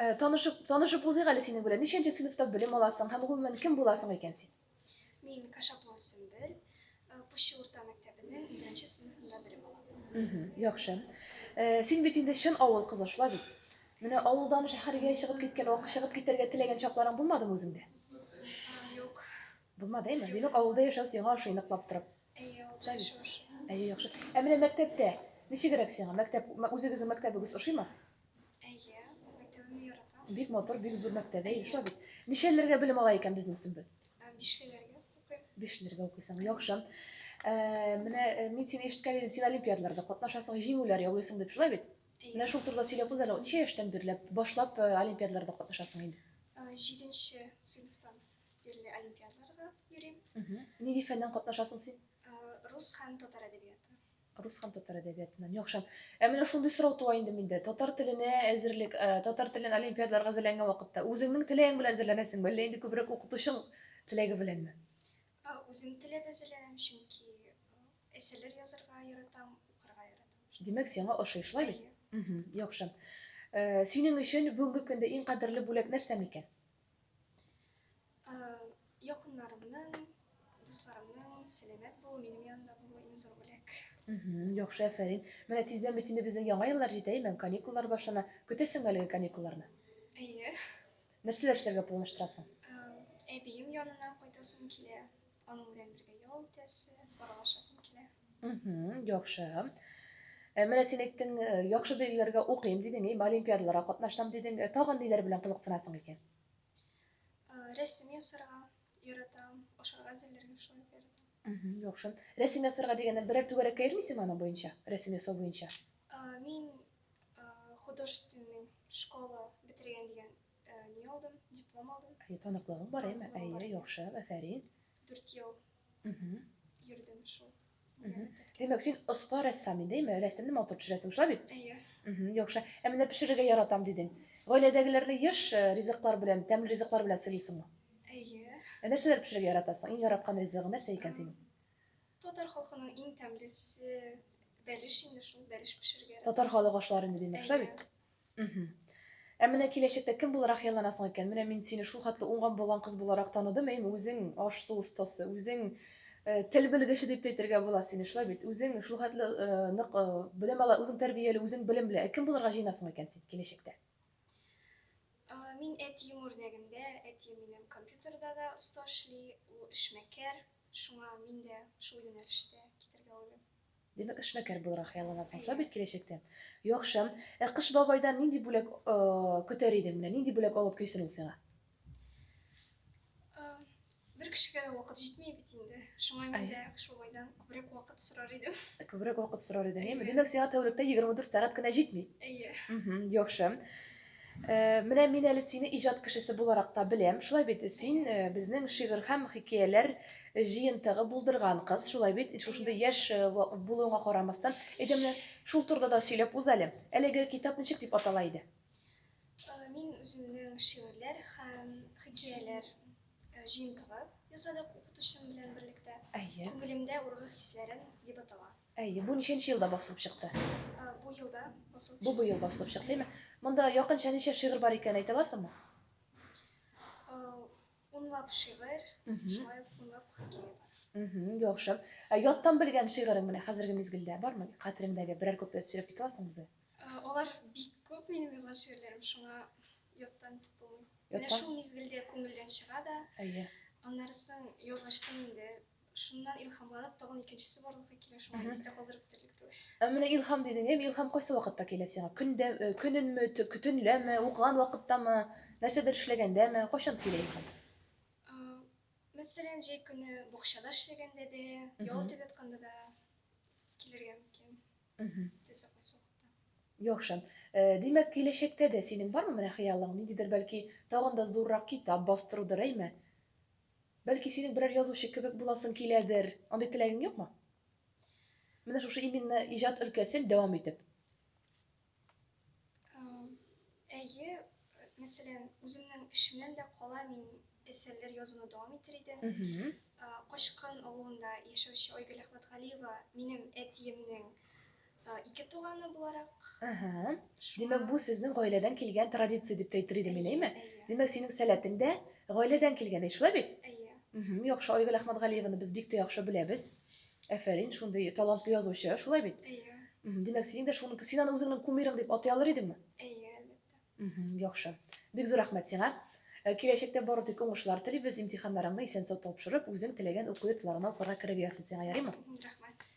Э, танышып, танышып узыйк әле синең белән. Ничәнче сыйныфта белем аласың һәм гомумән кем буласың икән син? Мин Кашапова Сөмбел, э, Пуща урта мәктәбенең беренче сыйныфында белем алам. Яхшы. Э, син бит инде чын авыл кызы шулай бит. Менә авылдан шәһәргә чыгып киткән, вак чыгып китәргә теләгән чакларың булмадымы үзеңдә? Юк. Булмады, әйме? Димәк, авылда яшәү сиңа ошый ныклап торып. Әйе, ул да шушы. Әйе, яхшы. Ә менә мәктәптә ничегрәк сиңа? Мәктәп, үзегезнең мәктәбегез ошыймы? Әйе, мәктәбемне яратам. Бик матур, бик зур мәктәп, әйе, шулай бит. Ничәләргә белем ала икән безнең Сөмбел? Бишлеләргә укыйм. Бишлеләргә укыйсың, яхшы. Менә мин сине ишеткән идем, син олимпиадаларда катнашасың, җиңүләр яулыйсың дип, шулай бит? Менә шул турыда сөйләп үз әле, ничә яшьтән бирле башлап олимпиадаларда катнашасың инде? Җиденче сыйныфтан. Стильле олимпиадаларга йөрим. Нинди фәннән катнашасың син? Рус һәм татар әдәбияты. Рус һәм татар әдәбиятыннан. Яхшы. Ә менә шундый сорау туа инде миндә. Татар теленә әзерлек, э, татар телен олимпиадаларга әзерләнгән вакытта үзеңнең теләгең белән әзерләнәсең, әллә инде күбрәк укытучың теләге беләнме? Үзем теләп әзерләнәм, чөнки э, әсәрләр язарга яратам, укырга яратам. Димәк, сиңа ошый, шулай бит? Яхшы. Э, синең өчен бүгенге көндә иң кадерле бүләк нәрсә микән? Якыннарымның, дусларымның сәламәт булу, минем янында булу иң зур бүләк. Яхшы, әфәрин. Менә тиздән бит инде безнең яңа еллар җитә, имән, каникуллар башлана. Көтәсеңме әлеге каникулларны? Әйе. Нәрсәләр эшләргә планлаштырасың? Әбием янына кайтасым килә. Аның белән бергә ял итәсе, аралашасым килә. Мхм, яхшы. Э, Менә син әйттең, э, яхшы билгеләргә укыйм дидең, им, олимпиадаларга катнашсам дидең. Э, Тагын ниләр белән кызыксынасың икән? Э, Рәсем ясарга яратам, ашарга әзерләргә шулай ук яратам. Мгм, яхшы. Рәсем ясарга дигәндә берәр түгәрәккә йөрмисеңме аның буенча? Рәсем ясау буенча. Э, Мин э, художественный школа бетергән дигән Ә, ни алдым? Диплом алдым. Әйе, таныклыгың бар, әйме? Әйе, яхшы, әфәрин. Дүрт ел йөрдем шул. Димәк, син оста рәссам инде, әйме? Рәсемне матур төшерәсең, шулай бит? Әйе. Яхшы. Ә менә пешерергә яратам дидең. Гаиләдәгеләрне еш э, ризыклар белән, тәмле ризыклар белән сыйлыйсыңмы? Әйе. Ә нәрсәләр пешерергә яратасың? Иң яраткан ризыгы нәрсә икән синең? Татар халкының иң тәмлесе бәлеш инде шул, бәлеш пешерергә яратам. Татар халык ашлары инде димәк, шулай бит? Мхм. Ә менә киләчәктә кем буларак хыялланасың икән? Менә мин сине шул хәтле уңган-булган кыз буларак таныдым, әйеме, үзең аш-су остасы, үзең тел белгече дип тә әйтергә була сине, шулай бит? Үзең шул хәтле нык белем ала, үзең тәрбияле, үзең белемле. Ә кем булырга җыенасың икән син киләчәктә? Мин әтием үрнәгендә, әтием минем компьютерда да оста эшли, ул эшмәкәр, шуңа мин дә шул юнәлештә китәргә уйлыйм. Димәк, эшмәкәр булырга хыялланасың да бит киләчәктә. Яхшы. Ә Кыш бабайдан нинди бүләк көтәр идең? Менә нинди бүләк алып килсен ул сиңа? Бер кешегә дә вакыт җитми бит инде. Шуңа мин дә Кыш бабайдан күбрәк вакыт сорар идем. Күбрәк вакыт сорар идең, әйе? Димәк, сиңа тәүлектә 24 сәгать кенә җитми. Әйе. Яхшы. Менә мин әле сине иҗат кешесе буларак та беләм, шулай бит? Син безнең шигырь һәм хикәяләр җыентыгы булдырган кыз, шулай бит? Шушындый яшь булуыңа карамастан, әйдә менә шул турыда да сөйләп уз әле. Әлеге китап ничек дип атала иде? Мин үземнең шигырьләр һәм хикәяләр җыентыгы ясадык укытучым белән берлектә. Әйе. Күңелемдә ургы хисләрем дип атала. Әйе, бу ничәнче елда басылып чыкты? Бу елда басылып чыкты. Бу быел басылып чыкты, әйме? Монда якынча ничә шигырь бар икәнен әйтә аласыңмы? Унлап шигырь, шулай ук унлап хикәя бар. Яхшы. Ә яттан белгән шигырең менә хәзерге мизгелдә бармы? Хәтереңдәге берәр куплет сөйләп китә аласыңмы үзең? Алар бик күп минем язган шигырьләрем, шуңа яттан итеп булмый. Менә шул мизгелдә күңелдән чыга да. Әйе. Аннарысын язгачтын инде Шуннан илхамланып, тагын икенчесе барлыкка килә, шуңа Мгм. истә калдырып бетерлек түгел. Ә менә илһам дидең, әйе, илһам кайсы вакытта килә сиңа? Көндә, э, көненме, тө- кө- төнләме, укыган вакыттамы, нәрсәдер эшләгәндәме? Кайчан килә илһам? А, Мәсәлән, җәй көне бакчада эшләгәндә дә, ял Мгм. итеп ятканда да килергә мөмкин. Мгм. Теләсә кайсы вакытта. Яхшы. Э, Димәк, киләчәктә дә синең бармы менә хыялың? Ниндидер бәлки тагын да зуррак китап бастырудыр, әйме? Бәлки синең берәр язучы кебек буласың киләдер? Андый теләгең юкмы? Менә шушы именно иҗат өлкәсен дәвам итеп. Әйе, мәсәлән, үземнең эшемнән дә кала мин әсәрләр язуны дәвам итер идем. Качкын авылында яшәүче Айгөл Әхмәтгалиева минем әтиемнең Ике туганы буларак. Ага. Димәк, бу сезнең гаиләдән килгән традиция дип әйтер идем мин, әйме? Димәк, синең сәләтең дә гаиләдән килгән, шулай бит? Әйе. Угу, яхшы, Айгөл Әхмәтгалиеваны без бик тә яхшы беләбез. Әфәрин, шундый талантлы язучы, шулай бит? Әйе. Димәк, синең дә шуны, син аны үзеңнең кумирың дип атай алыр идеңме? Әйе, әлбәттә. Яхшы. Бик зур рәхмәт сиңа. Э, киләчәктә бары тик уңышлар телибез, имтиханнарыңны исән-сау тапшырып, үзең теләгән уку йортларына укырга кереп ясыйсың, ярыймы? Рәхмәт.